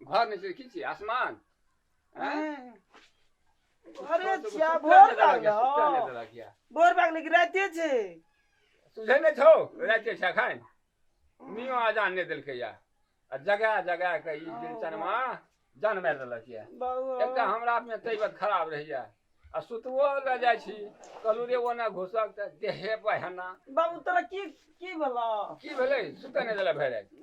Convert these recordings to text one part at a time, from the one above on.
घर नहीं से खींची आसमान हैं? अरे छोड़ दो, जिया, सुतल भोर नहीं दला गया, भइल सुतल हौ। नहीं दला गया। भोर भाग लेकिन राते छे तुझे नहीं छो रहते छा खाए मियो आजान नहीं दिल के या आ जगह जगह के ई दिन चनमा जान में दला गया बाबू एक तऽ हमरा में तैबत खराब रहैया आ सुतबो लऽ जाइ छी कहलू रे ओना घुसक तऽ देहे पहना बाबू तोरा की की भेलौ की भेलै सुतऽ नहि देला भरि राति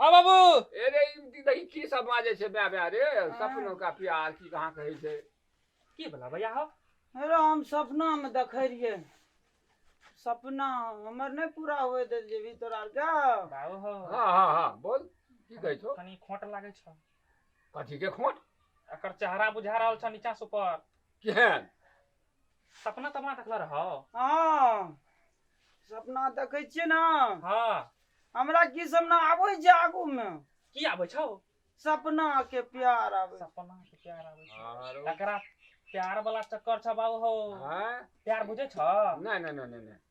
हँ बाबू अरे ई देखी की सब बाजै छै बे बे रे सपनो का प्यार की कहाँ कहै छै की भला भैया हो अरे हम सपनामे देखै रहियै सपना हमर नहि पूरा हुए दे जेबी तोरा आरके बाबू हो हाँ हाँ हाँ बोल की कहै छो कनी खोट लागै छ कथी के खोट एकर चेहरा बुझा रहल छ नीचा से ऊपर केहन सपना तपना देखले रहो हाँ सपना देखै छियै ने हाँ हमरा की सपना आबै छै आगू मे की आबै छौ सपना के प्यार आबै छै। सपना के प्यार आबै छौ आरो तकरा प्यार वाला चक्कर छौ बाबू हो हैं? प्यार बुझै छौ नहीं नहीं नहीं नहीं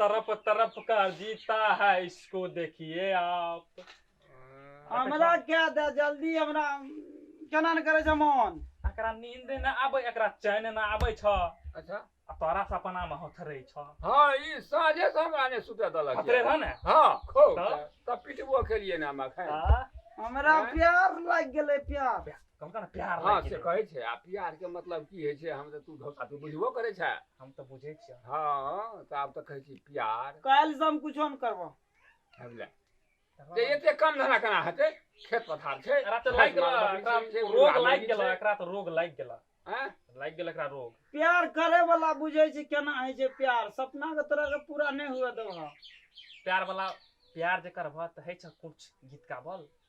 तरफ तरफ का जीता है इसको देखिए आप हमरा क्या दे जल्दी हमरा केना ने करे छ मन एकरा नींद न आबे एकरा चैन न आबे छ अच्छा आ तोरा सपना में होथरे छ हां ई साझे से हमरा ने सुते दलक होथरे रह ने हां खूब तब पिटबो के लिए ना हमरा प्यार लग गेले प्यार कम कम प्यार हँ लागि से गेलै कहै छै आ प्यार के मतलब की होइ छै हम तऽ तू धोखा तू बुझबो करै छै हम तऽ बुझै छियै हँ तऽ आब तऽ कहै छी प्यार काल्हि से हम कुछो नहि करबो बुझलियै तकर जे बाद- एते कम धरा केना हेतै खेत पथार छै एकरा तऽ लागि गेला माल एकरा बकरी छै, रोग माल लागि बकरी गेला छै। एकरा तऽ रोग लागि गेला आँय? लागि गेल एकरा रोग प्यार करे वाला बुझे छै केना होइ छै प्यार सपना के तरह के पूरा नहि हुए देबह प्यार वाला प्यार जे करबह तऽ होइ छै कुछ गीत गाबल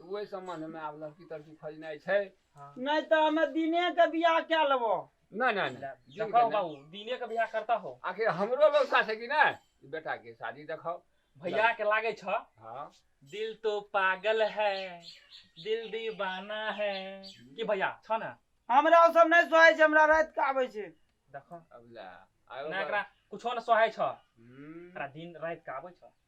तऽ ओहि सम्बन्धमे आब लड़की तड़की खोजनाइ छै नहि तऽ हमे दिनेके बियाह कए लेबो नहि नहि नहि दिनके देखो नहि। बाबू दिने के बियाह करता हो आखिर हमरो लौसा छै कि नहि ई बेटाके शादी देखाउ भैया के लागे छ हँ दिल तो पागल है दिल दीवाना है की भैया छ ने हमरा ओ सब नहि सोहै छै हमरा राति के आबै छै देखो अब लए आरो ना एकरा कुछो ने सोहे छ हम्म, एकरा दिन रात के आबै छ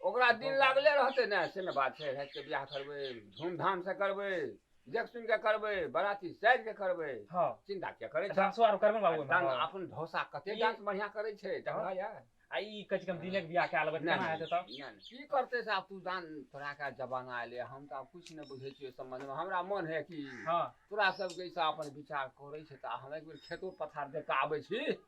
ओकरा दिन लागले रहतै ने से ने बात छै रातिके बियाह करबै धूमधामसँ करबै देख सुनि कऽ करबै बराती साजि कऽ करबै हँ चिन्ता किया करै छै डांसो आर करबै बाबू डांस अपन ढोसा कते डांस बढ़िया करै छै देखला या आ ई कहै छै हम दिने के बियाह कए लेबै केना हेतै तऽ की करतै से आब तू जान तोरा के जमाना एलै हम तऽ आब किछु नहि बुझै छियै सम्बन्धमे हमरा मन है कि तोरा सबके ई सब अपन विचार करै छै तऽ हम एक बेर खेतो पथार देख कऽ आबै छी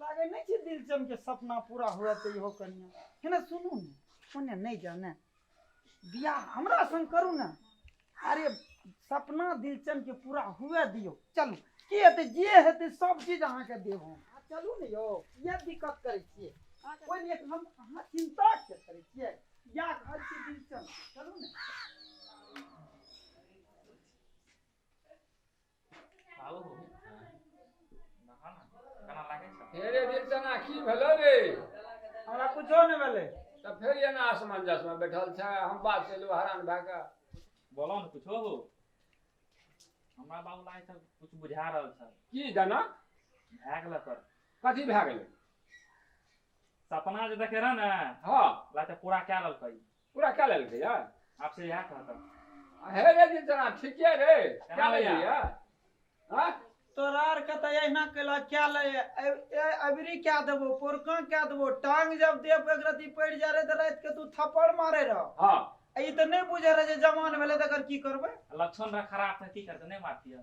लागे नहीं छे दिल चम के सपना पूरा हुआ तो इहो कन्या है ना सुनू ने कन्या नहीं जाने बियाह हमरा संग करू ना अरे सपना दिल चम के पूरा हुए दियो चलू की हेतै जे हेतै सब चीज अहाँ के देब हम आ, चलू ने यौ ये दिक्कत करै छियै कोई नहीं हम अहाँ चिंता के करै छियै या घर के दिल चल चलू ने बाबू हो नहा ना केना लागै छ हे रे दिलचना की भेलो रे हमरा कुछो नहि भेलै तऽ फेर एना असमंजसमे बैठल छै हम बात केलहुँ हरान भए कऽ बोलो न कुछो हो हमरा बाबू लागै छ कुछ बुझा रहल छ की जेना भए गेल पर कथी भए गेलै सपना जे देखे रहे ने हँ लागते पूरा कए लेलकै पूरा कए लेलकै यऽ आब से इएह कहतै हे रे जी जना ठीके रे कए केना लेलियै भैया? हँ तोरा आर के तऽ अहिना कैला कए ले अबरी कए देबो पोरका कए देबो टांग जब देह पर एक रत्ती पड़ि जाय रहे तऽ राति के तू थप्पड़ मारे रह हँ आ ई तऽ नहि बुझे रहे जे जवान भेलै तऽ एकर की करबै लक्षण रह खराब तऽ की करतै नहि मारतियै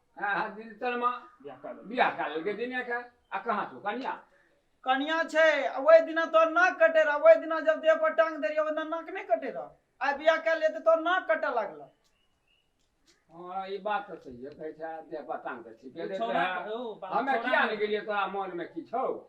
आहा दिन तनमा बियाह कए लेलकै दिने के आ कहाँ छौ कनिया कनिया छै आ ओहि दिना तोहर नाक कटे रह ओहि दिना जब देह पर टांग दे रही ओहि दिना नाक नहीं कटे रह आइ बियाह कए लिए तऽ तोहर नाक कटे लगल हाँ ई बात तऽ सही कहै छै देह पर टांग दे ठीके दे छौड़ा- रहे ओ, बाबा हमे छौड़ा किया ने- ने गेलियै तोरा मन में की छौ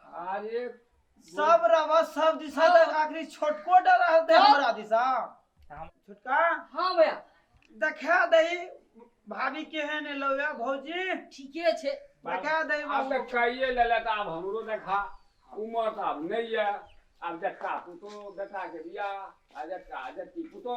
अरे सब रवा सब दिशा हाँ। तक आखिरी छोटको डर रहते हाँ। हमरा दिशा हम छोटका हां भैया देखा दही भाभी केहन लौया भौजी ठीके छै देखा दही आब तक कहिए लेले त आब हमरो देखा उमर त आब नहीं है आब देखा पुतो बेटा के बियाह आ देखा जति पुतो